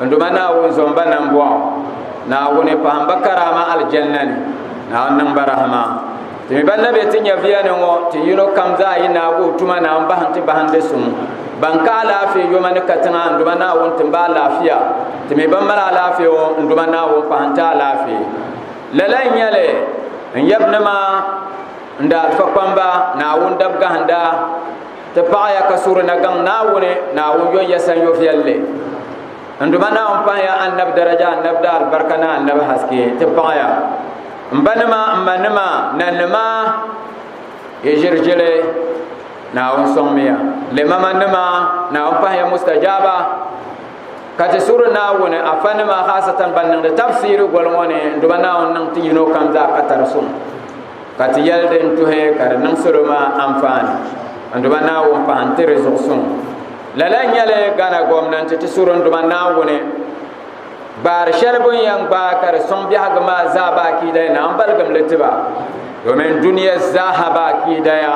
N duma Naawuni zom ba nambɔɣu, Naawuni pahim ba karaama aljanna ni, Naawuni niŋ ba rahima. Ti mi ba na be ti nyaviya ni ŋɔ, ti yino kam zaa yi naagi o tuma Naawuni bahindi ti bahindi suŋ. Ban ka alaafee yoma ni katiŋa, N duma Naawuni tim ba alaafia. Ti mi ban mali alaafee ŋɔ, N duma Naawuni pahim ti alaafee. Lala n-nyɛli, N yabinima, N daalifa kpamba, Naawuni dabgahinda. Ti paɣaya ka suhuri na gaŋ Naawuni, Naawuni yɔn ya sanyo viɛlli. N duma Naawuni pahiya annabi daraja, annabi daa alibarika ni annabi haske. Ti paɣaya m ba nima, m ma nima, nanima, yi ʒirigili Naawuni sɔŋmiya. Limama nima, Naawuni pahiya mustajaaba. Ka ti suhuri Naawuni afa nima haasatan ban niŋdi tabsiri goli ŋɔ ni, n duma Naawuni niŋ ti yino kam zaa ka tari suŋ. ka ti yɛli din tuhi ka di niŋ salo maa anfaani n-duma naawuni pahi n-ti di zuɣu suŋ lala nyɛli Ghana gɔmnanti ti suri n-duma naawuni gbaari shɛli bun yɛn gbaai ka di suŋ biɛhigu maa zaa ba akiida na m-baligim li ti ba domin duniya zaaha ba akiida ya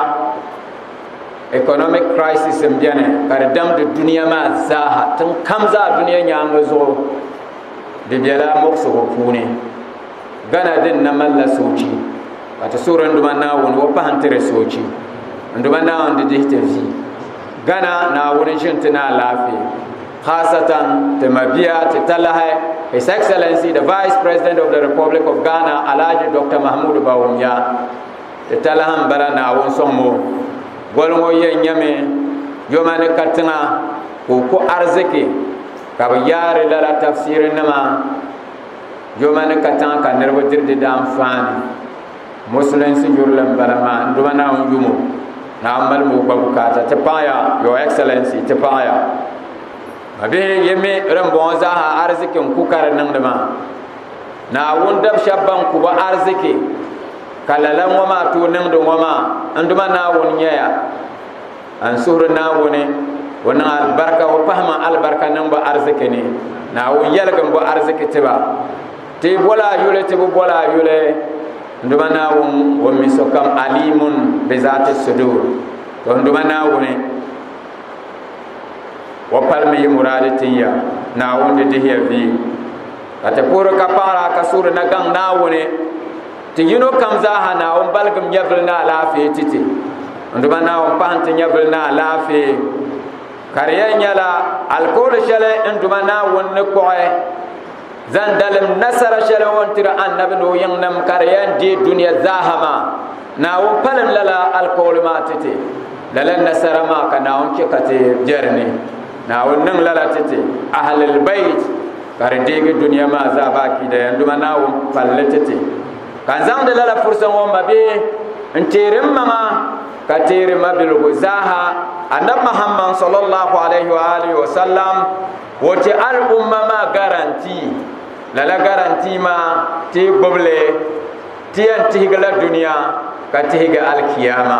economic crisis n bɛni ka di damdi duniya maa zaaha tiŋ kam zaa duniya nyaanga zuɣu di bɛla muɣisigu puuni Ghana din na malila soochi ka ti suhuri n duma Naawuni o pahi n tiri soochi n duma Naawuni di dihi ti vi Ghana Naawuni ʒi n ti na alaafee khaasatan ti mabia ti talahi His Excellency the Vice President of the Republic of Ghana Alhaji Dr. Mahmoud Bawumia ti talahi n bala Naawuni soŋmo goli ŋo yɛn nyɛmi yoma ni ka tiŋa ka o ko arziki ka bi yaari lala tafsiri nima Joma ni ka tiŋa ka niriba diri di daanfaani musulinsi yurili n bala maa n duma naawuni yumo naawuni mali moo gba bukaata ti paɣaya your excellency ti paɣaya ma bihi yemi din bɔŋɔ zaaha ariziki n ku ka di niŋdi maa naawuni dab shɛba ban ku ba ariziki ka lala ŋɔ maa tooi niŋdi ŋɔ maa n duma naawuni nyɛya a ni suhuri naawuni o niŋ alibarika o pahima alibarika niŋbu ariziki ni naawuni yɛligi n bo ariziki tiba ti bola yuli ti bi bola yuli nduma naawuni o mi sokam alimun bi zaati sudur to nduma naawuni o palimi yi muraadi tinya naawuni di dihiya vi ka ti puhiri ka paɣara ka suhuri na gaŋ naawuni Ti yino kam zaaha Naawuni baligim nyɛvili ni alaafee ti ti. N duba Naawuni pahi nti nyɛvili ni alaafee. Ka di yɛn nyɛla alikooli shɛli n duba Naawuni ni kpuɣi zaŋ dalim nasara shɛli o ni tiri annabi ni o yiŋnim ka di yɛn deei dunia zaaha maa. Naawuni palim lala alikooli maa ti ti. Lala nasara maa ka Naawuni chɛ ka ti bɛ di ni. Naawuni niŋ lala ti ti ahlil bayt ka di deegi dunia maa zaa bɛ akiida yan duma Naawuni palli ti ti ka n zaŋdi lala fursa ŋɔ mabihi n teeri m maŋa ka teeri mabiligu zaaha Annabi Muhammad sallallahu alayhi wa alihi wa sallam o ti al umma maa garanti lala garanti maa ti gbubili ti yan tihigila dunia ka tihigi alkiyama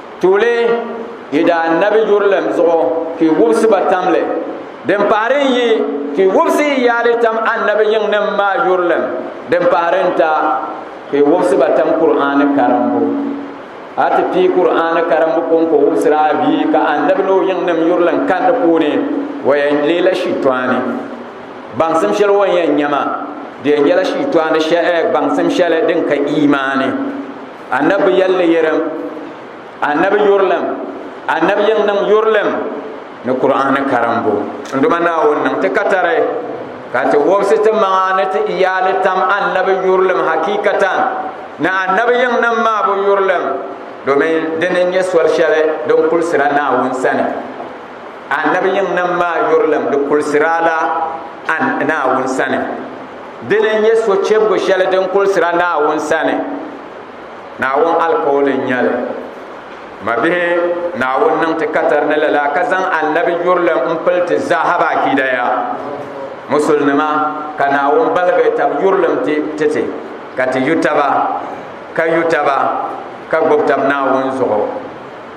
Tuuli yi daa nabi yurilɛm zuɣu ka yi wubisi ba tam li. Din pahiri n-yi ka yi wubisi yi yaali tam annabi yiŋnim maa yurilɛm, din pahiri n-ta ka yi wubisi ba tam Kur'aani karimbu. A ti pii Kur'aani karimbu kɔŋko wubisir a bia ka annabi ni o yiŋnim yurilɛm kani di puuni, o yɛn leela shitɔɣani. Baŋsim shɛli o ni yɛn nya maa, di yɛn nyɛla shitɔɣani gbaŋsim shɛli din ka iimaani. Annabi yɛlli yɛrim, Annabi yurilim, Annabi yɛn niŋ yurilim ni Kur'aani karimbu. N duma Naawuni niŋ ti katari ka ti wɔbisi ti maŋa ni ti iyaali tam Annabi yurilim hakiikatan ni Annabi yɛn niŋ maa bu yurilim domin din n-nyɛ soli shɛli din kulisira Naawuni sani. Annabi yɛn niŋ maa yurilim di kulisira la Naawuni sani. Dini n nyɛ sochɛbigu shɛli din kulsira Naawuni sani. Naawuni alikauli n nyɛli. Mabihi, Naawuni niŋ ti katari ni lala ka zaŋ Annabi yurilim n pili ti zaaha bɛ akiidaya. Musulinima, ka Naawuni baligi tab yurilim ti ti ti, ka ti yu taba, ka yu taba, ka gbubi tab Naawuni zuɣu.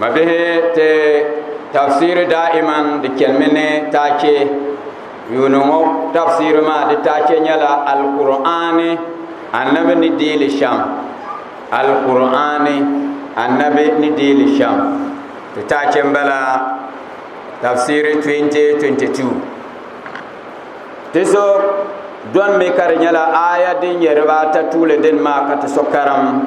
Mabihi ti tafsiri daa'iman di chenimi ni taache. Yuuni ŋɔ tafsiri maa di taache nyɛla Alkur'aani Annabi ni deei li shem. Alkur'aani Annabi ni deei li shem. Ti taache n bala tafsiri 2022. Ti so dɔnmi ka di nyɛla aaya din nyɛ dibaa ata tuuli dini maa ka ti so karim.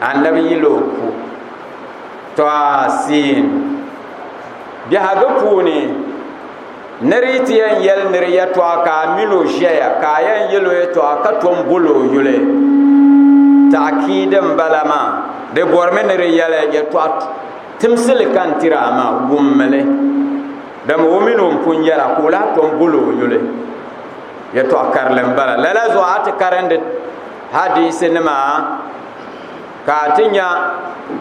annabi yil o ku tɔasiin biɛhigu puuni ni di ti yɛn yɛli niri yɛtɔɣa ka a mini o ʒɛya ka a yɛn yɛl o yɛtɔɣa ka tom bol o yuli takiidi n bala maa di bɔrimi ni di yɛli yɛtɔɣa timsili ka n tiri a maa wummili dama o mini o pun yɛra ka o lahi tom bol o yuli yɛtɔɣa karili n bala lala zuɣu a ti karindi Hadiisi nima ka a ti nya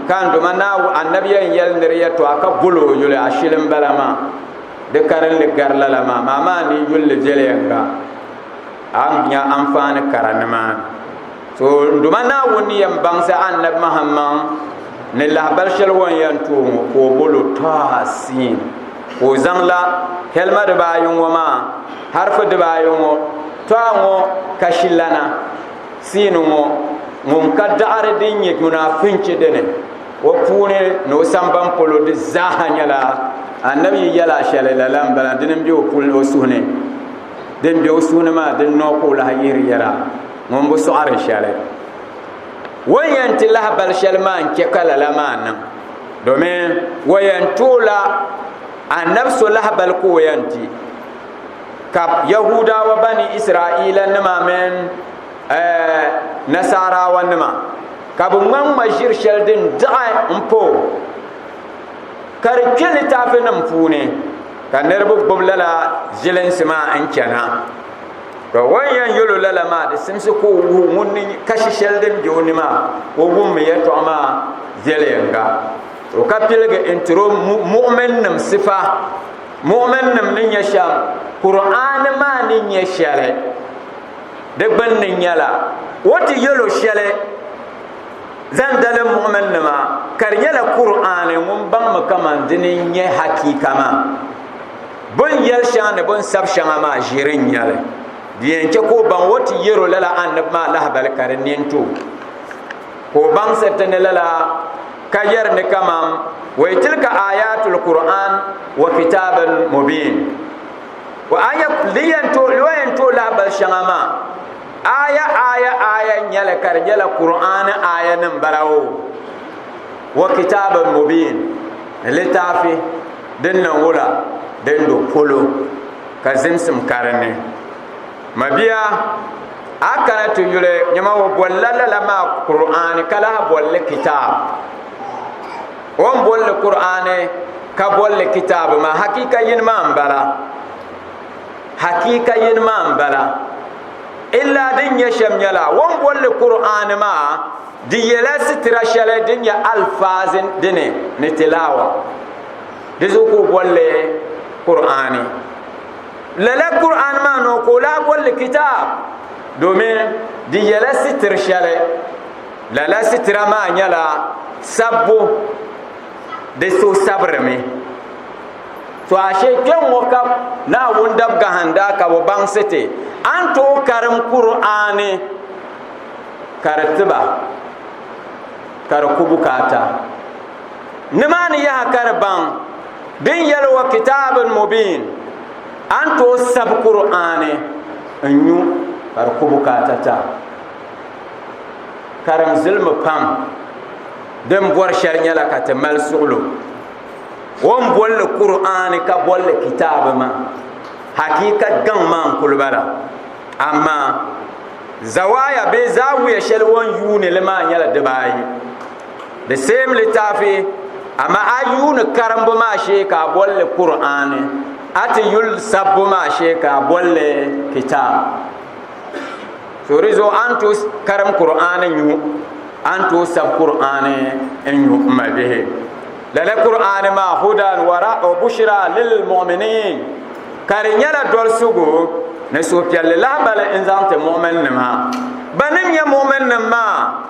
ka n duma Naawuni annabi yɛn yɛli niri yɛtɔɣa ka bol o yuli ashili n bala maa. Di karinli gari lala maa maa maa ni yulli viɛliyɛŋga a ni nya anfaani kara nimaani. So n duma Naawuni ni yɛn baŋsi annabi Mahammaŋ ni lahabali shɛli o ni yɛn tooi ŋɔ ka o bol o Tɔha Siin ka o zaŋla hɛlima dibaayi ŋɔ maa harifi dibaayi ŋɔ Tɔha ŋɔ kashilana, siini ŋɔ, ŋun ka daɣiri din nyɛ munaafinchi dini, o puuni ni o samban polo di zaaha nyɛla Annabi yi yɛl a shɛli, lala m-bala, dini m-be o puli ni o suhu ni. Din be o suhu ni maa, din noo ka o lahi yihiri yɛla, ŋun bi sɔɣiri shɛli. O ni yɛn ti lahi bal shɛli maa n-chɛ ka lala maa niŋ, domin o yɛn ti o la Annabi so lahibal ka o yɛn ti. ka yahudawa bani israila nima mini eh, nasarawa nima ka bi ŋma ŋma ʒiri shɛli din daɣi n po ka di kpɛ litaafi nim puuni ka niraba gbubi lala zilinsi maa n chɛna ka wan yɛn yɛlo lala maa di simsi ka o wuhi ŋun ni kashi shɛli din bɛ o ni maa o wummi yɛltɔɣa maa viɛliyɛŋga to ka piligi n tiro muɣumin nim sifa Mu'min nim ni nyɛ shɛm Kur'aani maa ni nyɛ shɛli di gbunni nyɛla o ti yɛlo shɛli zaŋ dali mu'min nima ka di nyɛla Kur'aani ŋun baŋmi kaman dini n-nyɛ hakiika maa bun yɛli shɛŋa ni bun sab shɛŋa maa ʒiri n-nyɛli di yɛn chɛ ka o baŋ o ti yɛro lala annabi maa lahibali ka di nini ti o Ka o baŋsiri ti ni lala, ka yɛri ni kaman, Wa tilka aayaatul Kur'aan wa kitaabin mubiin. O aaya, di yɛn tooi, o yɛn tooi lahabali shɛŋa maa, aaya aaya aaya n-nyɛ li, ka di nyɛla Kur'aani aayanim bala o, wa kitaabin mubiin, ni litaafi din niŋ wula, din do polo, ka zimsim ka di ni. Mabia, a kana ti yuli nyɛma o bolila lala maa Kur'aani ka lahi bolli kitaab. O ni bolli Kur'aani ka bolli kitaab maa hakiika yini maa m-bala. Hakiika yini maa m-bala. Illa din nyɛ shɛm nyɛla o ni bolli Kur'aani maa di yɛla sitira shɛli din nyɛ alfaazi dini ni tilaawa. Di zuɣu ka o bolli Kur'aani. lala Qur'an maa nɔ ka o lahi bolli kitaab domin di yɛla sitiri shɛli lala sitira maa nyɛla sabbu di so sabirimi to ashe kpɛŋŋo ka naawuni dab gahinda ka bi baŋsi ti a ni tooi karim Qur'ani ka di tiba ka di ku bukaata nimaani yaha ka di baŋ din yɛli wa kitaabin mubiin a ni tooi sabi kur'aani n nyu ka di ku bukaata ta karim zilimi pam din bɔri shɛli nyɛla ka ti mali suɣulo o ni bolli kur'aani ka bolli kitaabi maa hakika gaŋ maa n kuli bala amaa zawaaya bee zaawiya shɛli o ni yuuni li maa nyɛla dibaayi the same littaafi amma a yuuni karimbu maa shee ka a bolli kur'ani a ti yuli sabbu maa shee ka a bolli kitaab so di zuɣu a ni tooi karim kur'ani nyu a ni tooi sab kur'ani n nyu n mali bihi lala kur'ani maa hudan wara o bushira lil mu'minin ka di nyɛla dolisigu ni suhupiɛlli lahibali n zaŋ ti mu'min nima ba ni nyɛ mu'min nim maa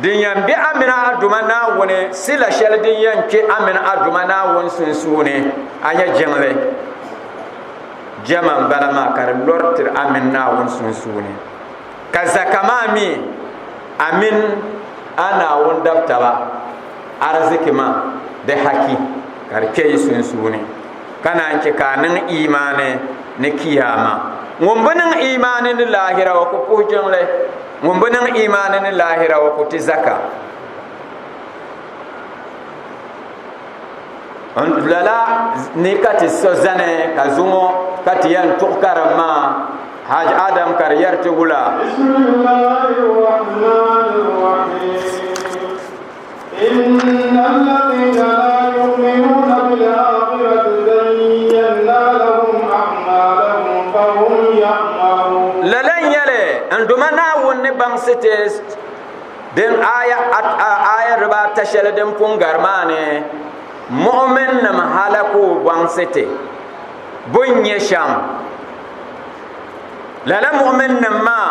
Din yɛn be a mini a Duuma Naawuni sila shɛli din yɛn kpe a mini a Duuma Naawuni sunsuuni, a nyɛ jiŋli. Jɛma m-bala maa ka di lɔri tiri a mini Naawuni sunsuuni. Ka zaka maa mi a mini a Naawuni dab taba ariziki maa di haki ka di kpe yi sunsuuni, ka naan chɛ ka a niŋ iimaani ni Kiyaama. Ŋun bi niŋ iimaani ni lahira o ku puhi jiŋli. ŋun bi niŋ imaani ni laahira o ku ti zaka lala ni ka ti so zani ka zuŋo ka ti yɛn tuɣu karim maa haj adam ka di yɛri ti wula Lala n-nyɛli n duma Naawuni ni baŋsi ti din aya aya dibaa ta shɛli din pun gari maa ni mu'minnim halaku baŋsi ti bɛn nyɛ shɛm lala mu'minnim maa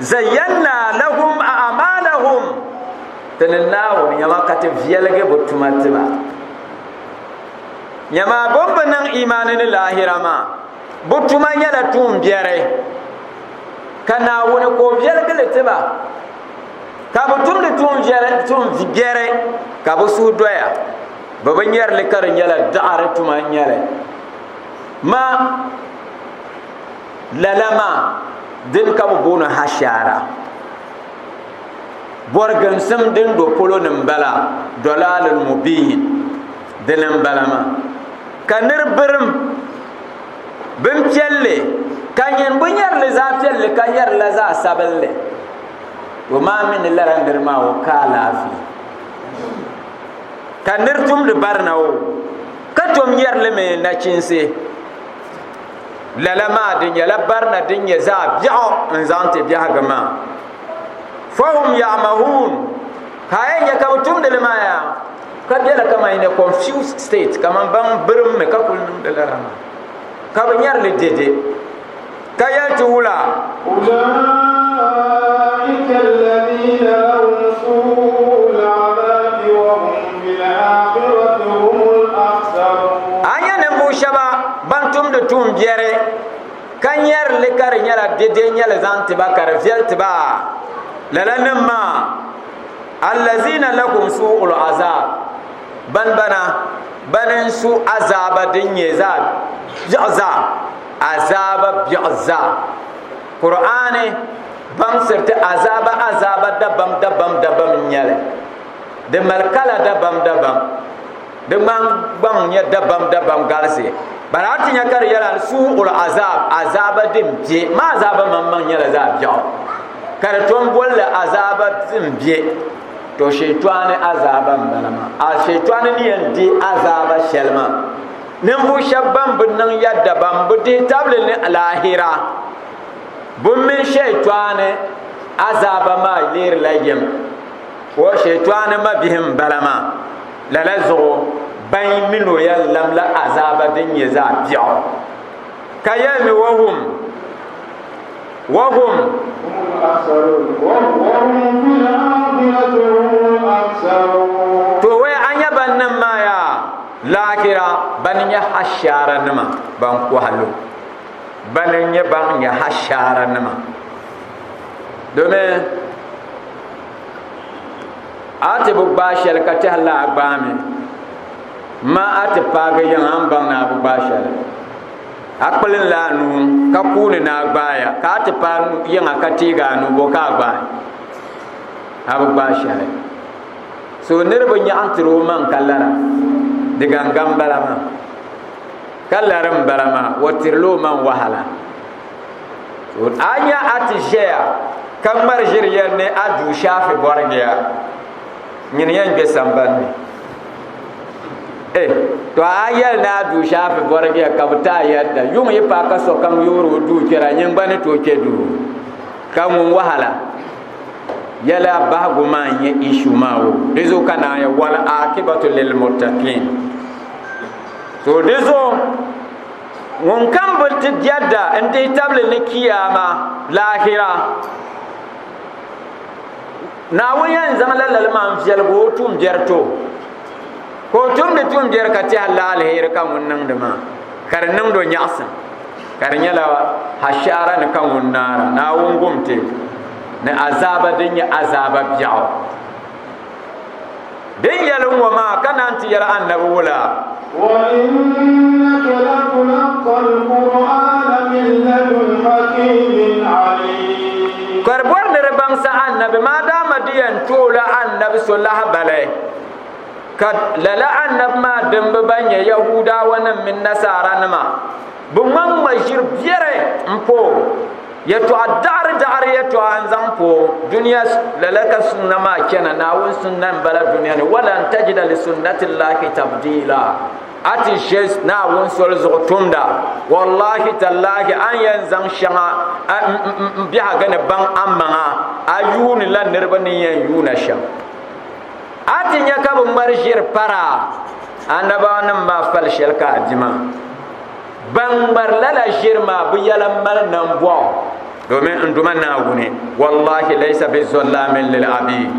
zayyana lahum a'malahum ti ni naawuni nyɛma ka ti viɛligi bi tuma tiba nyɛma bin bi niŋ imaani ni laahira maa bi tuma nyɛla tuun biɛri ka naawuni ka o viɛligili tiba ka bi tumdi tuun biɛri ka bi suhu doya bi bi nyɛrili ka di nyɛla daɣari tuma n nyɛli ma Lala maa dini ka bɛ booni hashaara. Bɔriginsim din do polo ni m-bala, dɔlaalun mubiin, dini m-bala maa. Ka nir birim bimpiɛlli ka nyin bo nyari li zaɣ piɛlli ka nyari la zaɣ sabinli, o maa mi ni lala nir maa o ka alaafee. Ka nir tumdi barina o ka tom nyari li mi nachinsi. lala maa di nyɛla barina din nyɛ zaɣ biɛɣu n zaŋ ti biɛhigu maa fahum yamahuun ka a nyɛ ka bi tumdili maa yaa ka biɛla kama in a confused state kamani ban birimmi ka kuli niŋdi lala maa ka bi nyɛrili dede ka yɛli ti wula ban tumdi tuun biɛri ka nyɛri li ka di nyɛla dede nyɛli zaŋ ti ba ka di viɛli ti ba lala nim maa allazina lakum su'ul azab ban bana ban n su azaaba din nyɛ zaa biɛɣu zaa azaaba biɛɣu zaa qur'ani baŋsiriti azaaba azaaba dabam dabam dabam n nyɛli di mali kala dabam dabam Di ŋmahingbaŋ nya dabamdabam galisi. Bala a ti nya ka di yɛla ni suu'ul azaab, azaaba din be, maa azaaba maŋmaŋ nyɛla zaɣ biɛɣu, ka di tom boli li azaaba din be, to Shɛyitɔɣuni azaaba m-bala maa. A Shɛyitɔɣuni ni yɛn di azaaba shɛli maa, ninvuɣ shɛba ban bi niŋ ya dabam bi dihi tabili ni alaahira, bɛ mini Shɛyitɔɣuni azaaba maa leerila yɛm. O, Shɛyitɔɣuni mabihi m-bala maa. Lala zuɣu ban mi ni o yɛn lamla azaaba din nyɛ zaɣ biɛɣu ka yɛli ni wahum wahum to wɛ a nyɛ ban niŋ maa yaa laakira ban nyɛ hashaara nima ban kɔhalo ban nyɛ ban nyɛ hashaara nima domin a ti bi gbaai shɛli ka tɛhi la a gbaami ma a ti paagi yiŋ a ni baŋ ni a bi gbaai shɛli a kpilim la a nuu ka kuuni ni a gbaaya ka a ti paai yiŋa ka teegi a nuu bo ka a gbaai a bi gbaai shɛli so niriba nyaɣim tiri o maŋ ka lara di gangan bala maa ka lari n bala maa o tirila o maŋ wahala a nya a ti ʒɛya ka ŋmari ʒiri yɛn ni a duu shaafi bɔrigiya nyini yɛn gbɛ sambanni eh to a yɛli ni a duu shaafi bɔrigiya ka bi taa yɛlda yuŋ yi pa ka sokam yoori o duu kpɛra nyin gba ni tooi kpɛ duu ka ŋun wahala yɛla bahigu maa n-nyɛ ishu maa o di zuɣu ka naaya wal akibatu lil muttaqin so di zuɣu ŋun kam bi ti jɛda n dihi tabili ni kiyaama laahira naawuni yɛn zaŋ lalali maa n viɛligi o tuumbiɛri to ka o tumdi tuumbiɛri ka tiɛha laalihiri ka ŋun niŋdi maa ka di niŋdi o nyaɣasim ka di nyɛla hashaara ni ka ŋun naara naawuni gumti ni azaaba din nyɛ azaaba biɛɣu din yɛli ŋɔ maa ka naan ti yɛli annabi ŋɔ la ka di bɔri ni di baŋsi annabi maa dama di yɛn tuɣila annabi so lahibali ka lala annabi maa dimba ban nyɛ yahuudaawa nim mini nasaara nima bi ŋmaŋ maʒiri biɛri n po yɛtɔɣa daɣiri daɣiri yɛtɔɣa n zaŋ po duniya lala ka sunna maa chɛna naawuni sunna n bala duniya ni wala n tajida li sunnati lahi tabdiila a ti ʒe naawuni soli zuɣu tumda wallahi tallahi an yɛn zaŋ shɛŋa n biɛhaga ni baŋ a maŋa a yuuni la niriba ni yɛn yuuna shɛm a ti nya ka bɛ ŋmari ʒiri para annabawanima maa fali shɛli ka a di maa. Ban ŋmari lala ʒiri maa bɛ yɛla m-mali nambɔɣu domin n Duuma Naawuni, wallahi laysa bi zɔllaamin lil abiid.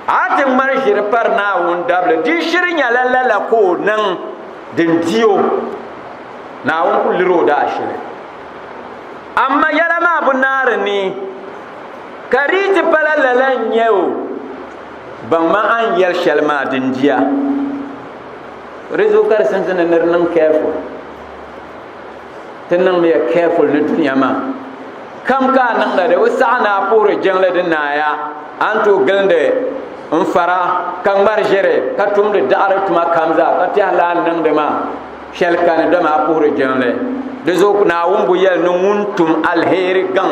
A ti ŋmari ʒiri pari Naawuni dabili, di shiri nyɛla lala ka o niŋ din di o. Naawuni ku liri o daashili. Amaa yɛla maa bi naari ni. Ka di yi ti pala lala n-nyɛ o, baŋma a ni yɛli shɛli maa di n-dia. Di zuɣu ka di sinsi ni nir niŋ careful. Ti niŋmiya careful ni dunia maa. Kam ka a niŋda di bi saɣi ni a puhiri jiŋli di naaya, a ni tooi gilindi n-fara ka ŋmari ʒiri ka tumdi daɣiri tuma kam zaa ka tɛhi lahi niŋdi ma shɛli kani dama a puhiri jiŋli. Di zuɣu Naawuni bo yɛli ni ŋun tum alheri gaŋ.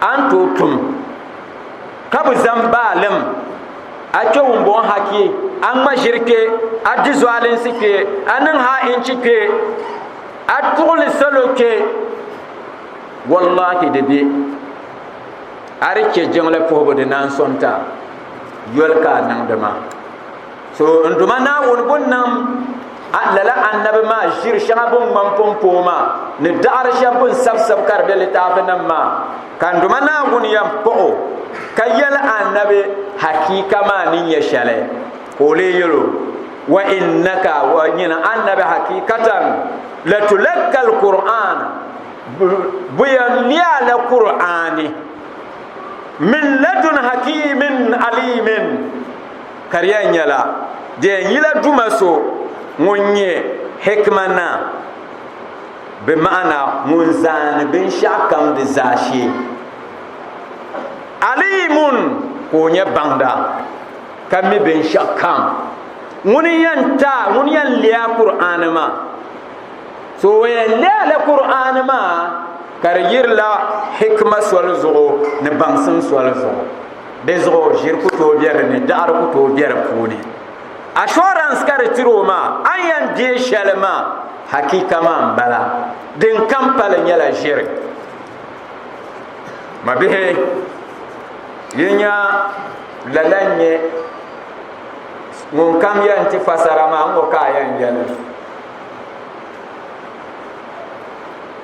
a ni tooi tum ka bi zaŋ baalim a kpɛ wumbɔŋ ha kpɛ a ŋma ʒiri kpɛ a di zualinsi kpɛ a niŋ ha inchi kpɛ a tuɣuli salo kpɛ wallahi di bɛ a di chɛ jiŋli puhibu di naan sɔŋta yoli ka a niŋdi maa so n duma naawuni bun niŋ lala annabi maa ʒiri shɛŋa bin ŋman pompoo maa ni daɣari shɛb bin sabisab ka di be litaafinim maa ka n duma naawuni yɛn paɣo ka yɛli annabi hakiika maa ni nyɛ shɛli ka o lee yɛlo wa innaka wa nyina annabi hakiikatan la tulakka alquran bu yɛn liya la qur'ani min ladun hakimin alimin ka di yɛn nyɛla di yɛn yila Duuma so ŋun nyɛ hikima naa, bi ma'ana ŋun zaani binshɛɣu kam di zaashee. Aliimun ka o nyɛ baŋda, ka mi binshɛɣu kam. Ŋuni n-yɛn ta, ŋuni n-yɛn leei a Kur'aani maa? So o yɛn leei la Kur'aani maa ka di yirila hikima soli zuɣu ni baŋsim soli zuɣu. di zuɣu ʒiri ku tooi bɛ di ni daɣari ku tooi bɛ di puuni assurance ka di tiri o maa a ni yɛn deei shɛli maa hakika maa n bala din kam pali nyɛla ʒiri ma bihi yi nya lala n nyɛ ŋun kam yɛn ti fasara maa ŋɔ ka a yɛn yɛli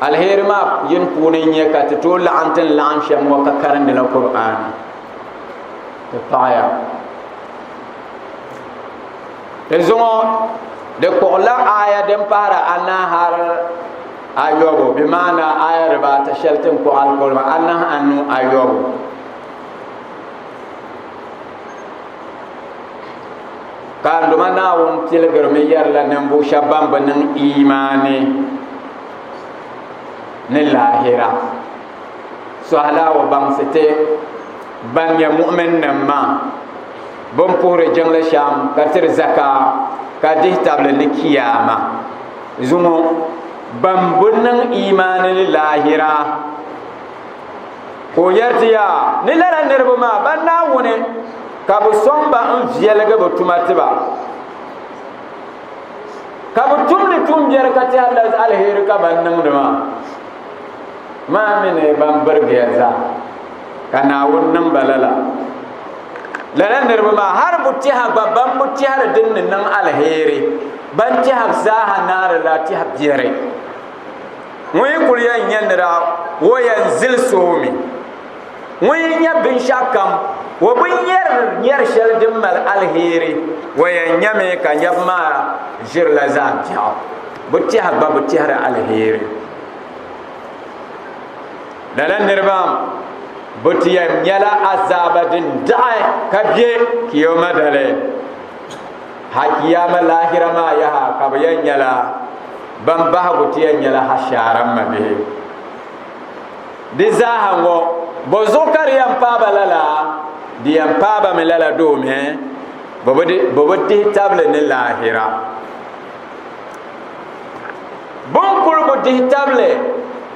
alheri maa yini puuni n nyɛ ka ti tooi laɣam ti ni laɣam shɛm ŋɔ ka karindila qur'an ti paɣaya ti zuŋɔ di kpuɣila aya din pahara anahi har ayobu bi maana aya dibaata shɛli tin kpuɣi alkolima anahi anu ayobu Ka n duma Naawuni tiligirimi yɛrila ninvuɣu shɛba ban bi niŋ imaani ni laahira sɔhila o baŋsi ti ban nyɛ mu'minnim maa bin puhiri jiŋli shɛm ka tiri zaka ka dihi tabili ni kiyaama zuŋɔ ban bi niŋ imaani ni laahira ka o yɛri ti yaa ni lala niriba maa ban Naawuni ka bi sɔŋ ba n viɛligi bi tuma ti ba ka bi tumdi tumbiɛri ka tɛha la alheri ka ban niŋdi maa maa mi ni ban birigiya zaa ka naawuni niŋ ba lala lala niriba maa hali bu tɛha gba ban bu tɛhiri din ni niŋ alheri ban tɛha zaaha naari la tɛha biɛri ŋun yi kuli yɛn nyɛ nira o yɛn zili soomi ŋun yi nya binshɛɣu kam, o bi nyari nyari shɛli din mali alheri, o yɛn nyami ka nyab maa ʒirila zaa biɛɣu. Bɛ tɛha gba bi tɛhiri alheri. Lala niriba bɛ ti yɛn nyala azaaba din daɣi ka be Kiyoma dali. Ha Kiyama laahira maa yaha ka bɛ yɛn nyala ban bahigu ti yɛn nyala hashaara mabihi. Di zaaha ŋɔ, bɔzuɣu ka di yɛn paaba lala? Di yɛn paabami lala domi bɛ bi dihi tabili ni laahira. Bɛ ni kul bi dihi tabili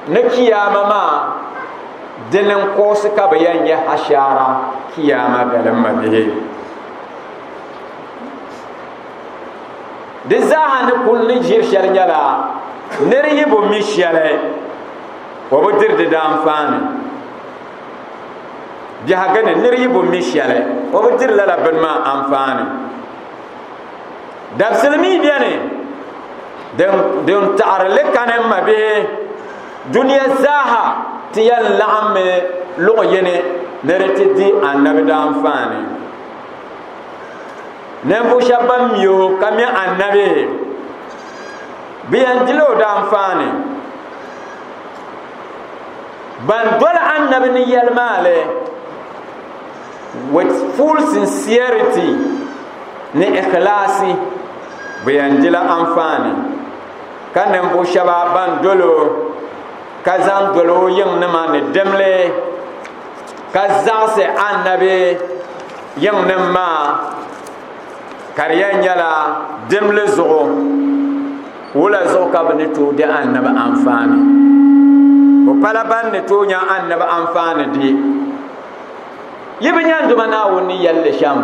ni Kiyaama maa, dini n-kuɣisi ka bɛ yɛn yɛh ashaara Kiyaama dalim mabihi. Di zaaha ni kul ni ʒiri shɛli nyɛla nir yi bi mi shɛli. O bi diri di daanfaani biɛhiga ni nir yi bo mi shɛli o bi diri lala bini maa anfaani dabisili mi beni din taɣiri li kani ma bihi duniya zaaha ti yɛn laɣim mi luɣ yini ni di ti di annabi daanfaani ninvuɣ shɛba ban mi o ka mi annabi bɛ yɛn dila o daanfaani ban doli annabi ni yɛli maa li with full sincerity ni ikhlasi bɛ yɛn dila anfaani ka ninvuɣu shɛba ban dolo ka zaŋ dolo o yiŋ nima ni dimli ka zaɣisi annabi yiŋ nim maa ka di yɛn nyɛla dimli zuɣu wula zuɣu ka bi ni tooi di annabi anfaani bi pala ban ni tooi nya annabi anfaani di yi bi nya duma naawuni ni yɛlli shɛm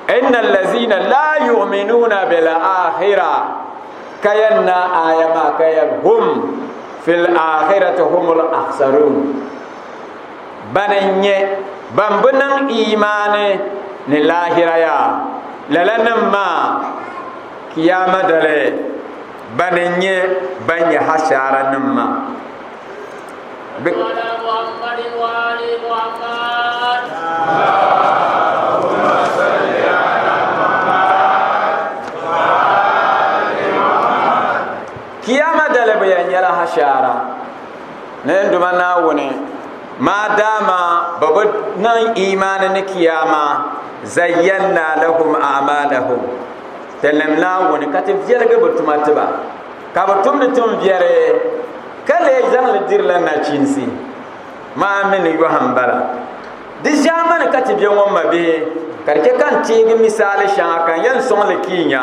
inna allazina la yu'minuna bil akhira ka yɛn na aya maa ka yɛn hum fil akhirati humul akhsarun Ban n-nyɛ ban bi niŋ iimaani ni laahira ya, lala nim maa, Kiyaama dali, ban n-nyɛ ban nyɛ hashaara nim ma. Kiyaama dali bɛ yan nyɛla hashaara. Nɛnduma Naawuni, maadaama bɛ bi niŋ imaani ni Kiyaama, zayyanna lahum a'maalahum, tilim Naawuni ka ti viɛligi bɛ tuma ti ba, ka bɛ tumdi tumbiɛri, ka lee zaŋ li dirila nachinsi. Maa mi ni yɔhi m-bala. Di ʒiɛmani ka ti be ŋɔ m mabihi, ka di chɛ ka n teegi misaali shɛŋa ka n yɛn sɔŋ li ka yi nya.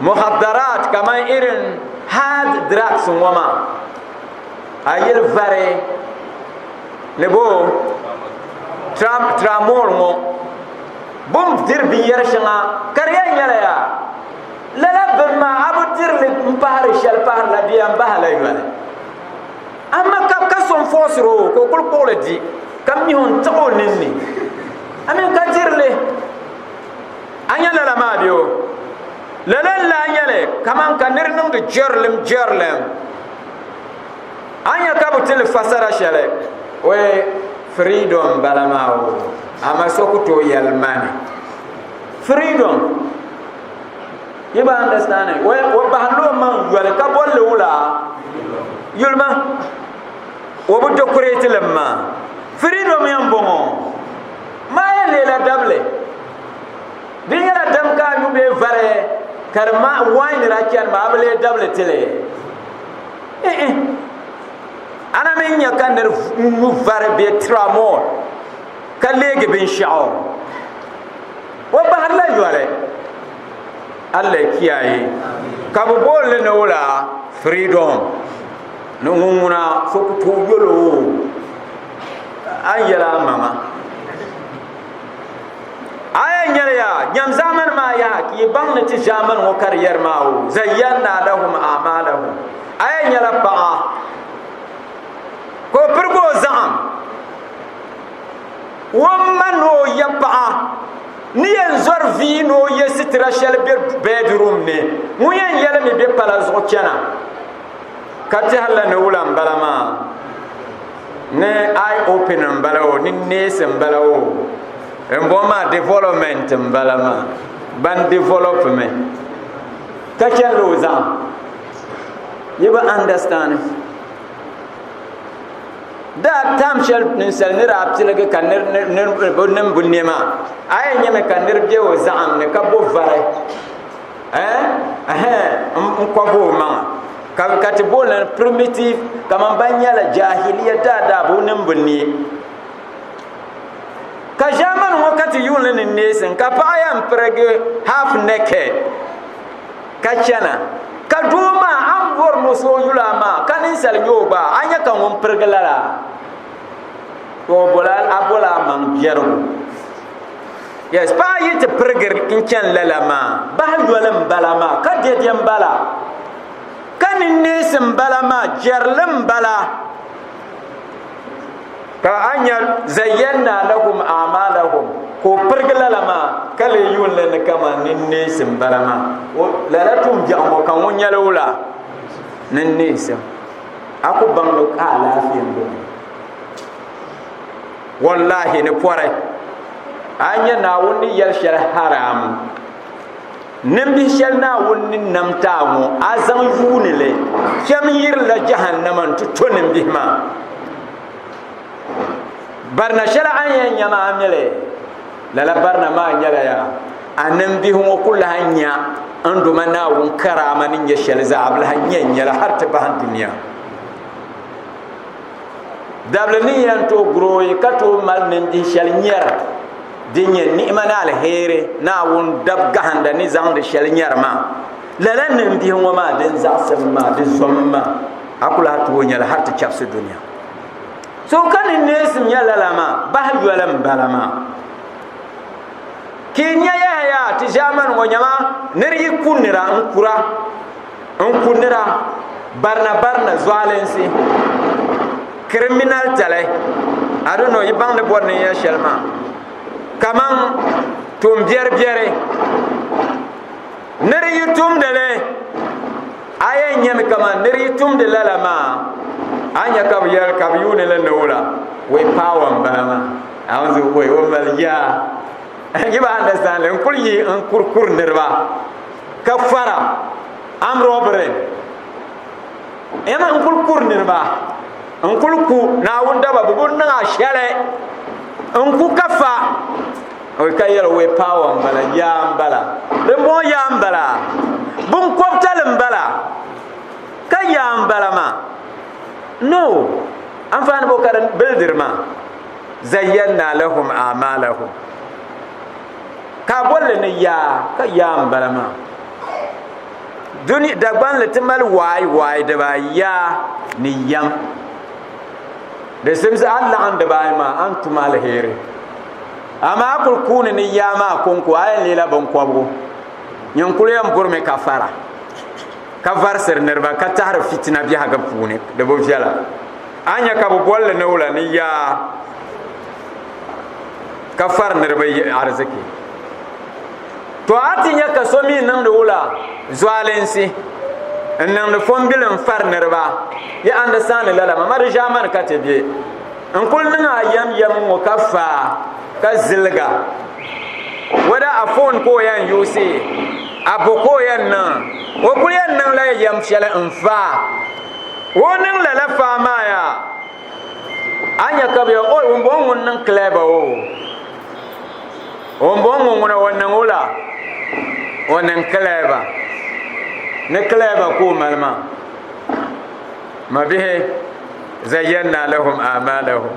muhadaraat kaman irin hard drugs ŋɔ maa a yili vari ni bo tramol ŋɔ bu ni diri binyɛri shɛŋa ka di yɛn nyɛla yaa lala bini maa a bi dirili n pahari shɛli paharila di yɛn bahala yoli amma ka ka so n fɔɔsiri o ka o kuli kpuɣili di ka mihi n tiɣi o ninni amin ka dirili a nya lala maa bɛ o lala n lahi nyɛli kaman ka nir niŋdi jɛrilim jɛrilim a nya ka bi tili fasara shɛli o firidom bala maa o ama so ku tooi yɛli mani firidom yi ba understand o bahinla o maŋ yoli ka bolli wula yulima o bi dekorɛti li maa firidom yɛn bɔŋɔ Maa yɛn leela dabili. Di nyɛla dam ka a nyu bee vari ka di ma wain daa chani maa a bi lee dabili ti li? Ihi. A na mi nya ka nir nyu vari bee tramol ka leegi binshɛɣu. O bahirila yoli. Allah kiyaye. Ka bi booni li ni wula? Freedom. Ni ŋun ŋuna so ku tooi yol o. a ni yɛli a maŋa a yɛn nyɛli ya nyɛm zaamani maa yaha ka yi baŋ ni ti zaamani ŋɔ ka di yɛri maa o zayyanna lahum amalahum a yɛn nyɛla paɣa ka o pirigi o zaɣam wom ma ni o yɛ paɣa ni yɛn zɔri vii ni o yɛ sitira shɛli bɛ bɛɛdirum ni ŋun yɛn yɛlimi bɛ pala zuɣu chɛna ka tɛhirila ni wula n bala maa ni i open n bala o ni neesi n bala o n bɔ maa development n bala maa ban develop mi ka chɛnila o zaŋ yi bi understand daa tam shɛli ninsali ni daa piligi ka niŋbu niɛma a yɛn nyɛmi ka niri bɛ o zaɣam ni ka bo vari n kɔbi o maŋa ka ka ti booni primitive kamani ban nyɛla jahiliya daadaa bi niŋ bi niɛ ka ʒɛmani ŋɔ ka ti yuuni ni neesim ka paɣa yɛn pirigi half naked ka chɛna ka doo maa a ni bɔri ni o so o yuli amaa ka ninsali nyɛ o gba a ni nyɛ ka ŋun pirigi lala a bolaa maŋ biɛrigu yes paɣa yi ti pirigiri n chɛni lala maa bahi yoli n bala maa ka dɛdɛ n bala ka ninneesi n bala maa jɛrili n bala ka a nya zayyɛnna lahum amalahum ka o pirigi lala maa ka lee yuunli ni kaman ninneesi n bala maa lala tum biɛɣu ŋɔ ka ŋɔ nyɛli wula ninneesi a ku baŋmi ka alaafee n bɔŋɔ Wallahi ni pɔri a nya Naawuni ni yɛli shɛli haram nimbihi shɛli Naawuni ni nam ti a ŋɔ a zaŋ yuuni li kpɛm yirila jahannama n-ti to nimbihi maa barina shɛli a yɛn nya maa mi li lala barina maa nyɛla ya a nimbihi ŋɔ ku lahi nya n doma Naawuni karaama ni nyɛ shɛli zaa bɛ lahi nya n-nyɛla hali ti bahi dunia Dabili ni yɛn tooi gurooi ka tooi mali nindihi shɛli nyɛra din nyɛ ni'ima ni alheri Naawuni dab gahinda ni zaŋdi shɛli nyɛri maa, lala nindihi ŋɔ maa din zaɣisim maa, di zommi maa, a ku lahi tooi nya li hal ti chabisi dunia. So ka ni neesi nya lala maa, bahi yoli m-bala maa. Ka yi nya yahaya ti ʒiɛmani ŋɔ nyama, nir yi ku nira n-kura. n ku nira barina barina zualinsi criminal tali I don't know yi baŋ ni bɔri ni ya shɛli maa kaman tumbiɛri biɛri ni di yi tumdi li a yɛn nyɛmi kaman ni di yi tumdi lala maa a nya ka bi yɛli ka bi yuuni li ni wula wei paawa n bala maa a wan zuɣu wei o mali yaa n yi ba understand n kuli yi n kurikuri niriba Ka fara armed robbery. Yɛma n kuli kuri niriba n kuli ku naawuni daba bi buni niŋ a shɛli n ku ka fa ka yɛli wee paawa n bala yaa n bala dimbɔŋɔ yaa n bala binkɔbitali n bala ka yaa n bala maa no anfaani bɔ ka di bildiri maa zayyana lahum amalahum ka a bolli ni yaa ka yaa n bala maa duni dagbanli ti mali waai waai dibaayi yaa ni yam di simsi a laɣam dibaayi maa a ni tum alheri amaa a kuli kuuni ni yaa maa konko a yɛn leela binkobgu nyin kuli yɛn burimi ka fara ka varisiri niraba ka tahari fitina biɛhagu puuni di bi viɛla a nyɛ ka bi bolli ni wula ni yaa ka fari niriba yihi arziki to a ti nya ka so mi niŋdi wula zualinsi n niŋdi fɔmbili n fari niriba yi andasani lala ma mari ʒaamani ka ti be n kuli niŋ a yɛm yɛm ŋɔ ka faa ka ziliga wada a foon ka o yɛn yuusi a bo ka o yɛn niŋ o kuli yɛn niŋla yɛm shɛli n faa o niŋ lala faa maa yaa a nya ka bɛ o ŋun bɔŋɔ ŋun niŋ kilɛba o ŋun bɔŋɔ ŋun ŋuna o niŋ o la o niŋ kilɛba ni kilɛba ka o mali maa ma bihi zayyanna lahum amalahum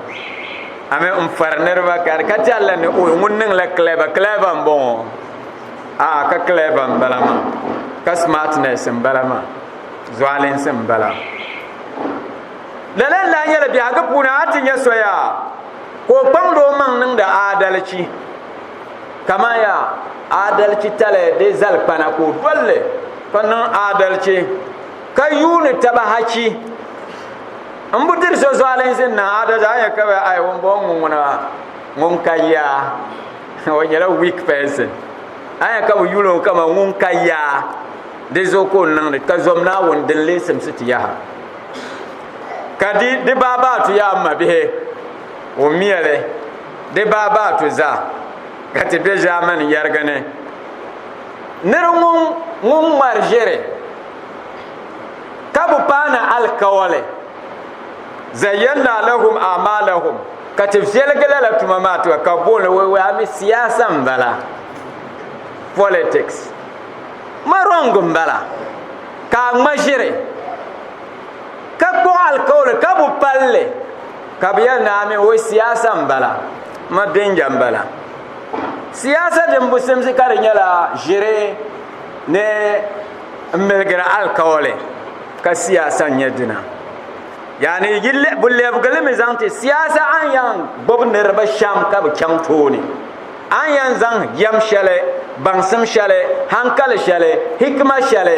ami n fari niriba ka ka ti Allah ni o ŋun niŋ la kilɛba kilɛba n bɔŋɔ a ka kilɛba n bala maa ka smartness n bala maa zualinsi n bala lala n lahi nyɛla biɛhigu puuni a ti nya soya ka o kpaŋdi o maŋ niŋdi aadalichi kamani ya aadalichi tali di zali kpana ka o dolli ka niŋ aadalichi ka yuuni taba hachi n bu diri so zualinsi n niŋ aadalichi a nya ka bɛ ai ŋun bɔŋɔ ŋuna ŋun ka ya o nyɛla weak person a nya ka bɛ yuuni o kama ŋun ka ya di zuɣu ka o niŋdi ka zom naawuni din leesimsi ti yaha ka di di baabaatu yaa ma bihi o miɛli di baabaatu zaa ka ti be ʒaamani yɛrigi ni nir ŋun ŋun ŋmari ʒiri ka bi paana alikawali zayyana lahum amalahum ka ti viɛligi lala tuma maa tuma ka booni wɛwaami siyaasa n bala politics ma rɔŋ n bala ka a ŋma ʒiri ka kpuɣi alikauli ka bu palli ka bi yɛli naa mini o siyaasa n bala ma bɛnja n bala siyaasa din bu simsi ka di nyɛla ʒiri ni n miligiri alikauli ka siyaasa n nyɛ dina yaani bu lɛbigili mi zaŋ ti siyaasa an yan gbubi niriba shɛm ka bi chaŋ tooni A ni yɛn zaŋ yɛm shɛli, baŋsim shɛli, hankali shɛli, hikima shɛli,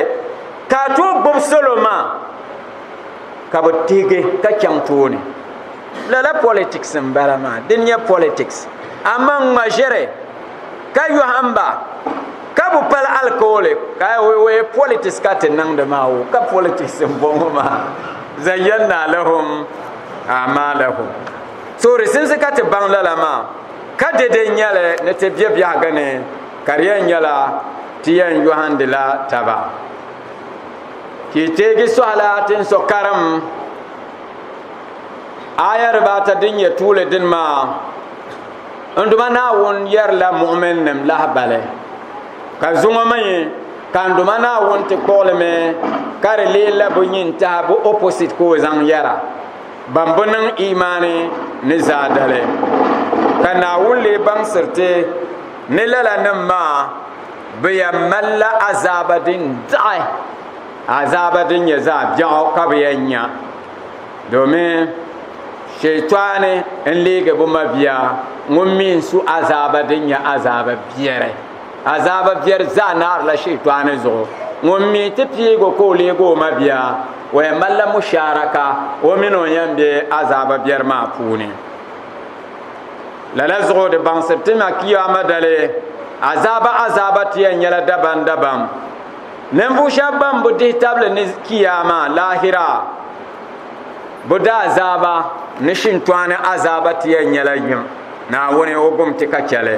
ka a tooi gbubi salo maa ka bɛ tihigi ka chaŋ tooni. Lala politics m-bala maa, di nyɛ politics. Amaa n ŋma ʒiri ka yɔhim ba ka bɛ pali alikauli ka o yɛ politics ka ti niŋdi maa o ka politics m-bɔŋɔ maa, zayyannaa lahum a'maalahum. So di simsi ka ti baŋ lala maa. Ka dede n-nyɛ li ni ti be biɛhigu ni, ka di yɛn nyɛla ti yɛn yɔhindila taba. Ka yi teegi sɔhila tin so karim aya dibaa ata din nyɛ tuuli dini maa, N Duuma Naawuni yɛrila muɣiminim lahibali, ka zuŋɔ mi ka n Duuma Naawuni ti kpuɣili mi ka di leei la bɛ nyin tahi bɛ opposite ka o zaŋ yɛra. Ban bi niŋ imaani ni zaa dali. Ka Naawuni lee baŋsiri ti ni lala nim maa bɛ yɛn malila azaaba din daɣi, azaaba din nyɛ zaɣ biɛɣu ka bɛ yɛn nya. Domin Shɛytɔɣuni n-leegi bɛ mabia ŋun mi n su azaaba din nyɛ azaaba biɛri. Azaaba biɛri zaa naarila Shɛyitaani zuɣu. Ŋun mi ti piig o ka o leeg o mabia, o yɛn malila mushaaraka o min o yɛn be azaaba biɛri maa puuni. Lala zuɣu di baŋsiri ti ma Kiyaama dali azaaba azaaba ti yɛn nyɛla dabamdabam. Ninvuɣ shɛb bɛn bi dihi tabili ni Kiyaama, laahira, bɛ daazaaba ni shintɔɣu ni azaaba ti yɛn nyɛla yim. Naawuni, o gom ti ka chɛ li.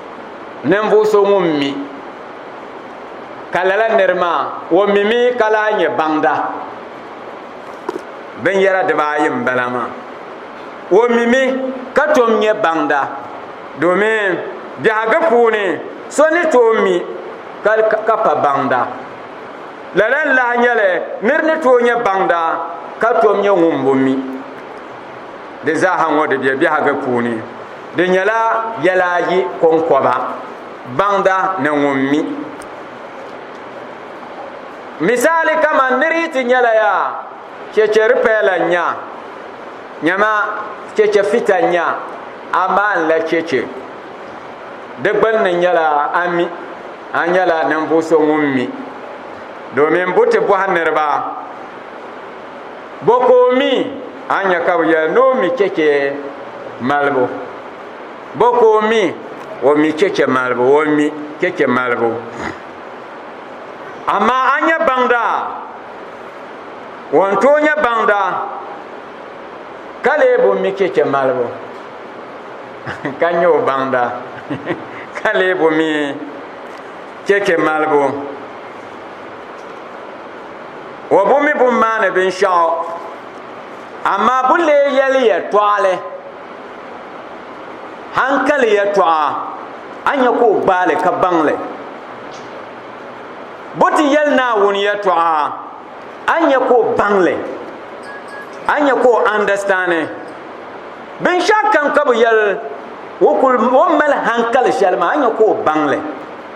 ninvuɣu so ŋun mi ka lala niri maa o mimi ka lahi nyɛ baŋda binyɛra dibaayi n bala maa o mimi ka tom nyɛ baŋda domin biɛhagu puuni so ni tooi mi ka pa baŋda lala n lahi nyɛli niri ni tooi nyɛ baŋda ka tom nyɛ ŋun bo mi di zaaha ŋɔ di bɛ biɛhagu puuni Di nyɛla yɛla ayi kɔŋkɔba, baŋda ni ŋun mi. Misali kaman nir yi ti nyɛla yaa chɛchɛ ripɛɛla n-nya, nyama chɛchɛ fita n-nya, a maanila chɛchɛ. Di gbunni nyɛla a mi, a nyɛla ninvuɣ so ŋun mi domin buti bɔhi niriba. Bɔ ka o mi? A ni nya ka bɛ yɛli ni o mi chɛchɛ malibu. Bɔ ka o mi? O mi chɛchɛ malibu, o mi chɛchɛ malibu. Amaa a ni nya baŋda? O ni tooi nya baŋda, ka lee bi mi chɛchɛ malibu, ka nya o baŋda, ka lee bi mi chɛchɛ malibu. o bu mi bun maani binshɛɣu amaa bu lee yɛli yɛtɔɣali hankali yɛtɔɣa a nya ka o gbaali ka baŋli bu ti yɛli naawuni yɛtɔɣa a nya ka o baŋli a nya ka o andastani binshɛɣu kam ka bu yɛli o mali hankali shɛli maa a nya ka o baŋli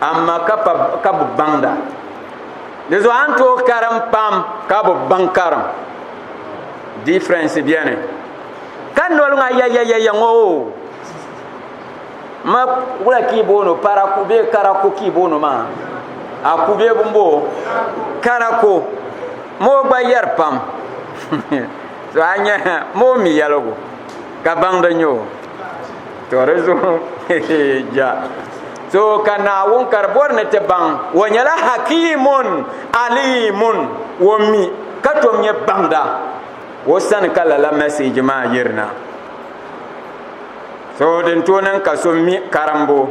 Amaa ka bɛ baŋda. Di zuɣu a ni tooi karim pam ka bɛ baŋ karim. Difference beni. Ka noli ŋɔ ayayayaya ŋɔ o. Ma wula ka i booni o paraku bee karaku ka i booni o maa. A ku bee bini bo o? Karaku. Moo gba yɛri pam. To a nya moo mi yɛligu ka baŋda nyɛ o. To di zuɣu ja. So ka Naawuni ka di bɔri ni ti baŋ o nyɛla Hakiimun Aliimun o mi ka tom nyɛ baŋda o sani ka lala mɛseeji maa yirina so din tooi niŋ ka so mi karimbu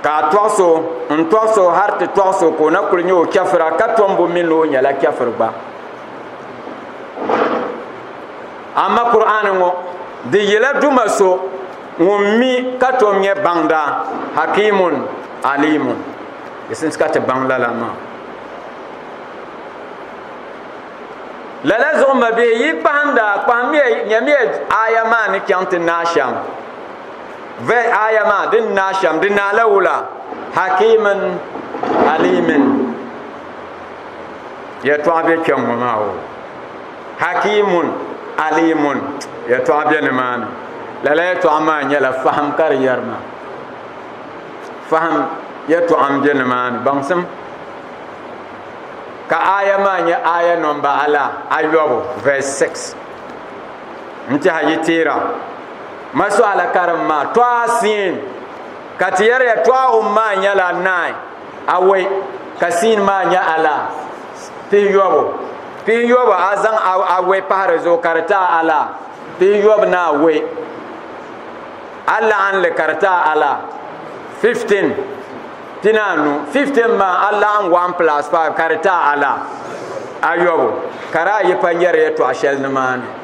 ka a tɔɣu so n tɔɣu so hali ti tɔɣu so ka o na kuli nyɛ o chɛfira ka tom bu mi ni o nyɛla chɛfiri gba amma kur'ani ŋɔ di yila duma so ŋun mi ka tom nyɛ baŋda hakimun alimun di sinsi ka ti baŋ lala maa lala zuɣu ma bihi yi kpahinda kpahimiya nyɛmiya aya maa ni chaŋ ti naa shɛm vɛ aya maa din naa shɛm di naa la wula hakimun alimun yɛtɔɣa bɛ kpɛŋŋo maa o Hakiimun, Aliimun, yɛtɔɣa bɛ nimaani. Lala yɛtɔɣa maa nyɛla fahim ka di yɛri ma. Fahim yɛtɔɣa m-be nimaani, baŋsim. Ka aya maa nyɛ aya nɔmba ala ayɔbu, verse 6. N-tiɛha yi teera ma suala karim maa, Tɔha siin, ka ti yɛri yɛtɔɣa wum maa nyɛla naai. awɔi ka siin maa nyɛ alaa pihiyɔbu pihiyɔbu a zaŋ awɔi pahi di zuɣu ka di taa alaa pihiyɔbu ni awɔi a laɣinli ka di taa alaa 15 pinaanu 15 maa a laɣim 1 plus 5 ka di taa alaa ayɔbu ka di ayi pa nyɛri yɛtɔɣ shɛli nimaani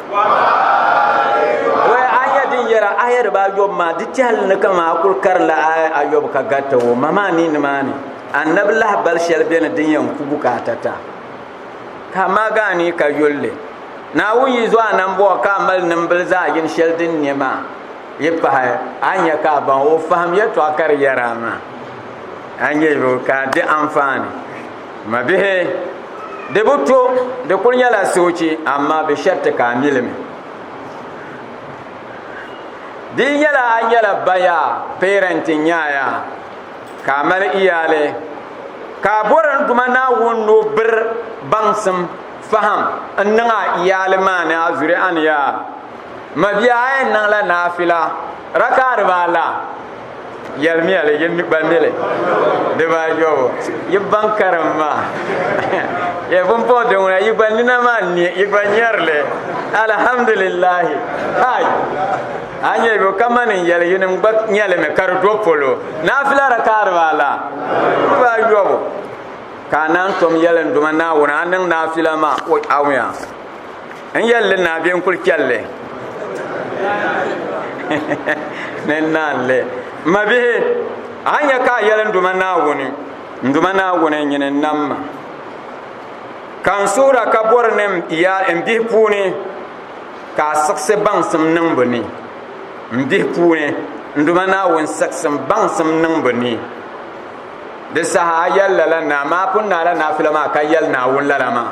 aya din yɛra aya dibaa yɔbu maa di tɛhili ni kama a kuli karinla aya ayɔbu ka garita o ma maa ni nimaani annabi lahi bali shɛli beni din yɛn ku bukaata ta ka ma gaa ni ka yulli naawuni yi zuɣu anambɔɣu ka a mali nimbili zaɣ yini shɛli din nyɛ maa yi pahi a nyɛ ka a baŋ o fahim yɛtɔɣa ka di yɛra maa a nyɛ yo ka di anfaani Mabihi, di bi to, di kuli nyɛla soochi, amaa bɛ shariti ka a mi li mi. Di yi nyɛla a nyɛla baya, parent, n-nyaaya, ka a mali iyaali, ka a bɔri ni Duuma Naawuni ni o biri baŋsim, fahim, n-niŋ a iyaali maa ni a zuriya ni yaa. Mabihi a yɛn niŋla naafila rakaa dibaa la. Yɛlimiya li, yi mi gba mi li dibaayɔbu, yi baŋ karim maa. Yɛ pumpɔŋ din ŋuna, yi gba nina maa n-ni, yi gba nyari li. Alhamdulillahi! Kai! A nya yo kamani n yɛli yinim gba nya li mi ka di do polo. Naafila rakaa dibaa la? Dibaayɔbu. Ka a naan tom yɛlinduma Naawuni a niŋ naafila maa, o awuya. n yɛlli naa bɛ n kuli chɛlli ni naanli mabihi a nyɛ ka a yɛli n duma naawuni n duma naawuni n nyini nam ma ka n suhura ka bɔri ni n bihi puuni ka a siɣisi baŋsim niŋ bi ni n bihi puuni n duma naawuni siɣisim baŋsim niŋ bi ni di saha a yɛli lala naa maa pun naala naafila maa ka yɛli naawuni lala maa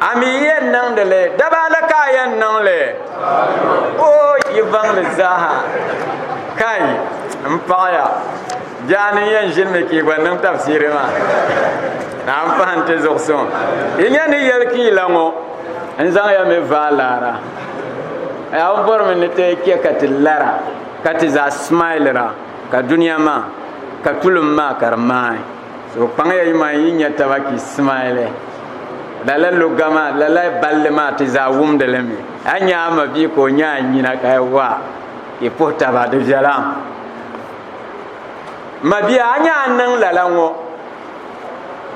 A mi yɛn niŋdi li, daba ni ka a yɛn niŋ li. O yi vaŋli zaaha. Kai, n paɣaya, biɛha ni n yɛn ʒinimi ka yi gba niŋ tafsiri maa, naa n pahi nti zuɣu suŋ. Yi nya ni yɛli ka yi la ŋɔ, n zaŋya mi vaai laara. Yaa o bɔrimi ni ti chɛ ka ti lara, ka ti zaa smailira, ka dunia maa, ka tulim maa ka di maai. So kpaŋya yi man yi nya taba ki simaili. Lala lugga maa, lala balli maa ti zaa wumdi li mi. A nya a ma bia ka o nya a nyina ka yi waa, yi puhi taba. Di viɛla. M ma bia, a nya n niŋ lala ŋɔ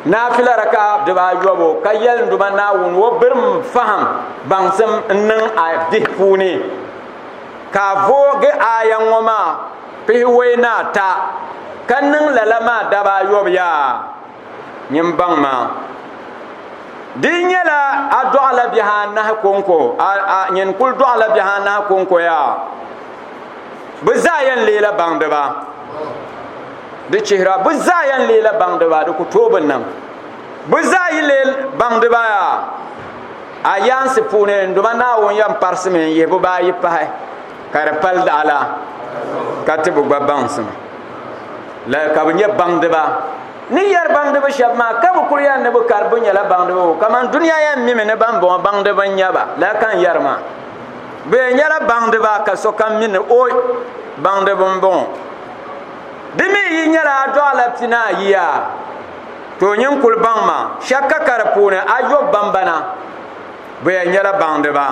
naafila raka'a dibaayɔbu ka yɛli n Duuma Naawuni o birim fahim baŋsim n-niŋ a bihi puuni ka a voogi aaya ŋɔ maa. pihiwei ni ata, ka niŋ lala maa daba ayɔbu yaa nyin baŋ maa. Di nyɛla a dɔɣila bihi anahi kɔŋko, a, a nyin kul dɔɣila bihi anahi kɔŋko yaa. Bɛ zaa yɛn leela baŋdiba. Di chihira bɛ zaa yɛn leela baŋdiba, di ku tooi bi niŋ. Bɛ zaa yi lee baŋdiba yaa, a yaansi puuni n duma Naawuni yɛn parisi mi n-yihi bibaayi pahi. Ka di pali daɣa la ka tibu gba baŋsim la ka bi nyɛ baŋdiba ni yɛri baŋdiba shɛba maa ka bi kuli yɛri ni bi kari bi nyɛla baŋdiba o kamani duniya yɛn mimi ni ban bɔŋɔ baŋdiba n nyɛba la ka n yɛri maa bi yɛn nyɛla baŋdiba ka sokam mi ni o baŋdiba n bɔŋɔ di mi yi nyɛla a dɔɣila pina ayiya to o nyin kuli baŋ ma shɛkka ka di puuni a yɔbu bambana bi yɛn nyɛla baŋdiba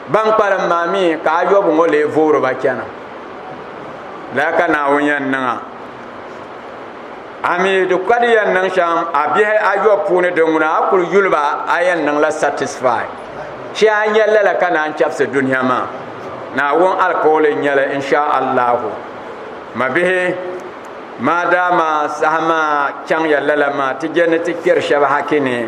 Ban kpalim maa mi ka ayɔbu ŋɔ lee voori ba chana. Lala ka Naawuni yɛn niŋ a. A mi di ka di yɛn niŋ shɛm a bihi ayɔbu puuni din ŋuna a kuli yuli ba a yɛn niŋla satisfy. Shee a nya lala ka naan chɛbisi dunia maa. Naawuni alikauli n-nyɛ li insha Allahu. Mabihi, maadaama saha maa chaŋya lala maa ti je ni ti kpɛri shɛba haki ni.